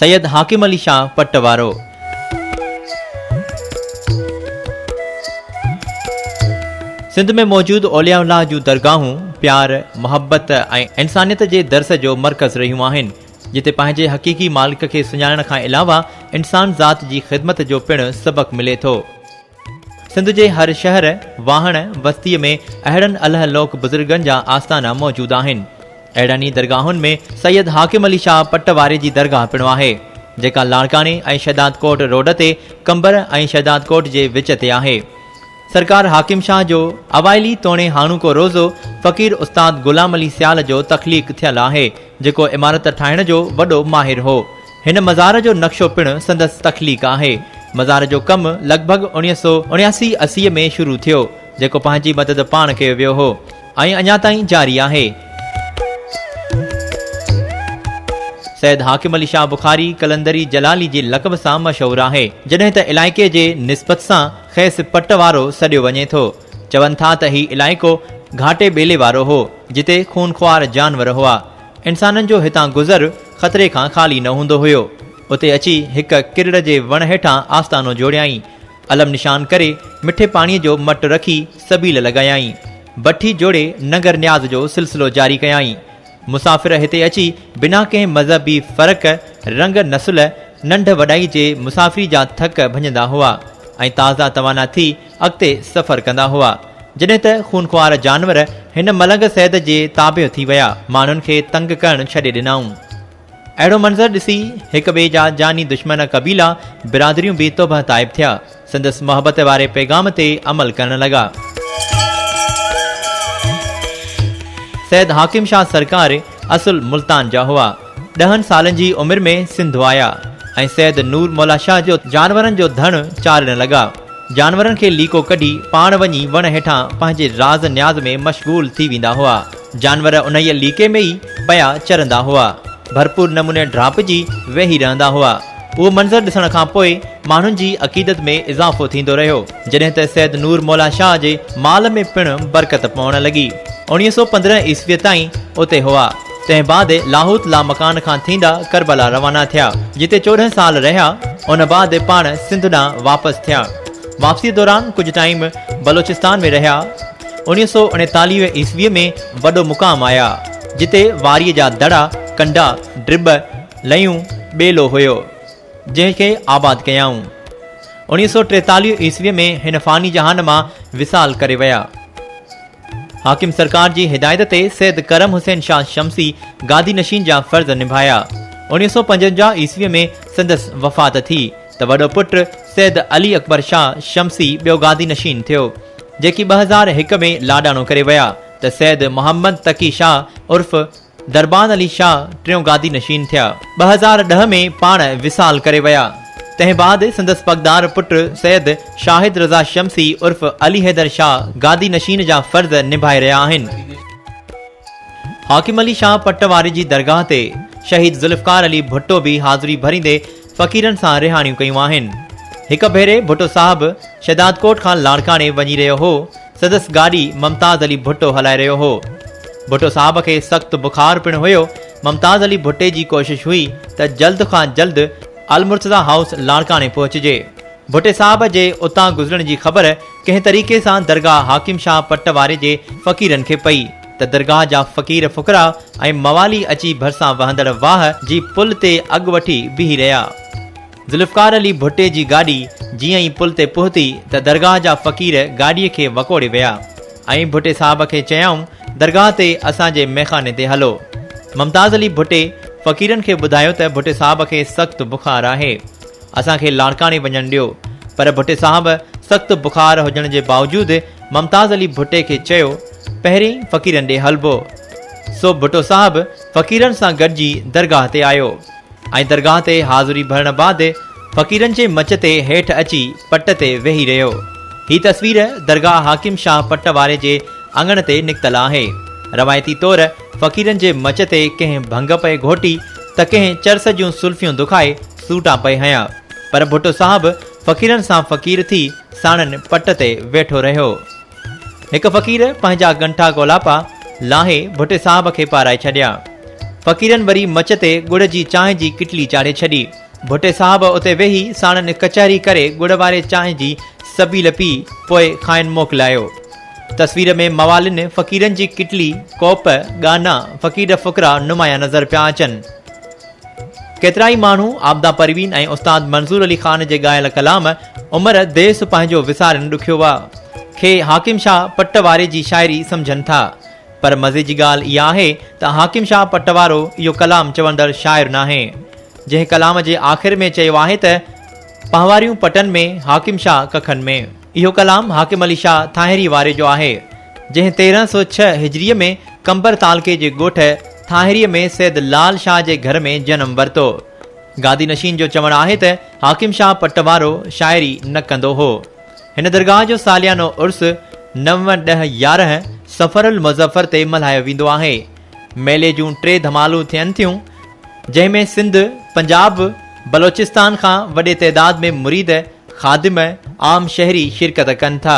سيد حاڪم علي شاهه پٽ وارو. سنڌ ۾ موجود اولياء الله جون درگاهون پيار، محبت ۽ انسانيت جي درس جو مرڪز رهيون آهن، جتي پنهنجي حقيقي مالڪ کي سڃاڻڻ کان علاوه انسان ذات جي خدمت جو پڻ سبق ملي ٿو. سنڌ جي هر شهر، واهڻ، وستيء ۾ اهڙن الله لوڪ بزرگن جا آستانا موجود آهن. اهڙن ئي درگاهن ۾ سيد حاڪم علي شاهه پٽ واري جي درگاهه پڻ آهي، جيڪا لاڙڪاڻي ۽ شهدادڪوٽ روڊ تي قمبر ۽ شهدادڪوٽ جي وچ تي آهي. سرڪار حاڪم شاهه جو اوائلي توڻي هاڻوڪو روضو فقير استاد غلام علي سيال جو تخليق ٿيل آهي، جيڪو عمارت ٺاهڻ جو وڏو ماهر هو. هن مزار جو نقشو پڻ سندس تخليق آهي. مزار جو ڪم لڳ ڀڳ اوڻيهه سؤ اڻياسي اسي ۾ شروع ٿيو، جيڪو پنهنجي مدد پاڻ ڪيو ويو هو ۽ اڃا تائين جاري آهي. سيد حاڪم علي شاهه بخاري قلندري جلالي جي لقب سان مشهور آهي، جڏهن ته علائقي جي نسبت سان کيس پٽ وارو سڏيو وڃي ٿو. چون ٿا ته هي علائقو گهاٽي ٻيلي وارو هو، جتي خونخوار جانور هئا. انسانن جو هتان گذر خطري کان خالي نه هوندو هيو. اتي اچي هڪ ڪرڙ جي وڻ هيٺان آستانو جوڙيائين. علم نشان ڪري مٺي پاڻيء جو مٽ رکي سبيل لڳايائين. بٺي جوڙي ننگر نياز جو سلسلو جاري ڪيائين. مسافر هتي اچي بنا ڪنهن مذهبي فرق، رنگ نسل، ننڍ وڏائي جي مسافري جا ٿڪ ڀڃندا هئا ۽ تازا توانا ٿي اڳتي سفر ڪندا هئا. جڏهن ته خونخوار جانور هن ملنگ سيد جي تابع ٿي ويا، ماڻهن کي تنگ ڪرڻ ڇڏي ڏنائون. اهڙو منظر ڏسي هڪ ٻئي جا جاني دشمن قبيلا، برادريون به توبهه تائب ٿيا. سندس محبت واري پيغام تي عمل ڪرڻ لڳا. سيد حاڪم شاهه سرڪار اصل ملتان جا هئا. ڏهن سالن جي عمر ۾ سنڌ آيا ۽ سيد نور مولا شاهه جو جانورن جو ڌڻ چارڻ لڳا. جانورن کي ليڪو ڪڍي پاڻ وڃي وڻ هيٺان پنهنجي راز نياز ۾ مشغول ٿي ويندا هئا. جانور انهيء ليڪي ۾ ئي پيا چرندا هئا. ڀرپور نموني ڊاهپجي ويهي رهندا هئا. اهو منظر ڏسڻ کان پوء ماڻهن جي عقيدت ۾ اضافو ٿيندو رهيو. جڏهن ته سيد نور مولا شاهه جي مال ۾ پڻ برڪت پوڻ لڳي. اوڻيهه سؤ پندرهن عيسويء تائين اتي هئا. تنهن بعد لاهوت لامڪان کان ٿيندا ڪربلا روانا ٿيا، جتي چوڏهن سال رهيا. ان بعد پاڻ سنڌ ڏانهن واپس ٿيا. واپسيء دوران ڪجهه ٽائيم بلوچستان ۾ رهيا. اوڻيهه سؤ اڻيتاليهه عيسويء ۾ وڏو مقام آيا، جتي واريء جا دڙا، ڪنڊا، ڊٻ، لئيون، ٻيلو هيو. جنهن کي آباد ڪيائون. اوڻيهه سؤ ٽيتاليهه عيسويء ۾ هن فاني جهان مان وصال ڪري ويا. حاڪم سرڪار جي هدايت تي سيد ڪرم حسين شاهه شمسي گادي نشين جا فرض نڀايا. اوڻيهه سؤ پنجونجاهه عيسويء ۾ سندس وفات ٿي ته وڏو پٽ سيد علي اڪبر شاهه شمسي ٻيو گادي نشين ٿيو. جيڪي ٻه هزار هڪ ۾ لاڏاڻو ڪري ويا ته سيد محمد تقي شاهه عرف دربان علي شاهه ٽيون گادي نشين ٿيا. ٻه هزار ڏهه ۾ پاڻ وصال ڪري ويا. تنهن بعد سندس پڳدار پٽ سيد شاهد رضا شمسي عرف علي حيدر شاهه گادي نشين جا فرض نڀائي رهيا آهن. حاڪم علي شاهه پٽ واري جي درگاهه تي شهيد ذوالفقار علي ڀٽو به حاضري ڀريندي فقيرن سان رهاڻيون ڪيون آهن. هڪ ڀيري ڀٽو صاحب شهدادڪوٽ کان لاڙڪاڻي وڃي رهيو هو سندس گاڏي ممتاز علي ڀٽو هلائي رهيو هو. ڀٽو صاحب کي سخت بخار پڻ هيو. ممتاز علي ڀٽي جي ڪوشش هئي ته جلد کان جلد المرتضيٰ هائوس لاڙڪاڻي پهچجي. ڀٽي صاحب جي اتان گذرڻ جي خبر ڪنهن طريقي سان درگاهه حاڪم شاهه پٽ واري جي فقيرن کي پئي ته درگاهه جا فقير فقراء ۽ موالي اچي ڀرسان وهندڙ واهه جي پل تي اڳ وٺي بيهي رهيا. ذوالفقار علي ڀٽي جي گاڏي جيئن ئي پل تي پهتي ته درگاهه جا فقير گاڏيء کي وڪوڙي ويا ۽ ڀٽي صاحب کي چيائون درگاهه تي اسان جي ميخاني تي هلو. ممتاز علي ڀٽي فقيرن کي ٻڌايو ته ڀٽي صاحب کي سخت بخار آهي. اسان کي لاڙڪاڻي وڃڻ ڏيو. پر ڀٽي صاحب سخت بخار هجڻ جي باوجود ممتاز علي ڀٽي کي چيو پهرين فقيرن ڏي هلبو. سو ڀٽو صاحب فقيرن سان گڏجي درگاهه تي آيو. ۽ درگاهه تي حاضري ڀرڻ بعد فقيرن جي مچ تي هيٺ اچي پٽ تي ويهي رهيو. هي تصوير درگاهه حاڪم شاهه پٽ واري جي اڱڻ تي نڪتل آهي. روايتي طور فقيرن جي مچ تي ڪنهن ڀنگ پئي گهوٽي ته ڪنهن چرس جون سلفيون دکائي سوٽا پئي هنيا. پر ڀٽو صاحب فقيرن سان فقير ٿي ساڻن پٽ تي ويٺو رهيو. هڪ فقير پنهنجا ڳنٺا گولاپا لاهي ڀٽي صاحب کي پارائي ڇڏيا. فقيرن وري مچ تي ڳڙ جي چانهه جي ڪٽلي چاڙهي ڇڏي. ڀٽي صاحب اتي ويهي ساڻن ڪچهري ڪري ڳڙ واري چانهه جي سبيل پي پوء کانئن موڪلايو. تصوير ۾ موالين، فقيرن جي ڪٽلي، ڪوپ، ڳانا، فقير فقرا نمايان نظر پيا اچن. ڪيترائي ماڻهو عابده پروين ۽ استاد منظور علي خان جي ڳايل ڪلام عمر ديس پنهنجو وسارين ڏکيو وئا کي حاڪم شاهه پٽواري جي شاعري سمجهن ٿا پر مزي جي ڳالهه اها آهي ته حاڪم شاهه پٽوارو اهو ڪلام چوندڙ شاعر ناهي جنهن ڪلام جي آخر ۾ چيو آهي ته پنهواريون پٽن ۾ حاڪم شاهه ڪکن ۾. اهو ڪلام حاڪم علي شاهه ٿانهري واري جو آهي. جنهن تيرهن سؤ ڇهه هجريء ۾ قمبر تعلقي جي ڳوٺ ٿانهريء ۾ سيد لعل شاهه جي گهر ۾ جنم ورتو. گادي نشين جو چوڻ آهي ته حاڪم شاهه پٽ وارو شاعري نه ڪندو هو. هن درگاهه جو ساليانو عرس نو ڏهه يارهن صفر المظفر تي ملهايو ويندو آهي. ميلي جون ٽي ڌمالون ٿين ٿيون، جنهن ۾ سنڌ، پنجاب، بلوچستان کان وڏي تعداد ۾ مريد، خادم، عام شهري شرڪت ڪن ٿا.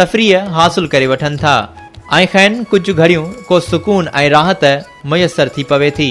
تفريح حاصل ڪري وٺن ٿا ۽ کين ڪجهه گهڙيون ڪو سڪون ۽ راحت ميسر ٿي پوي ٿي.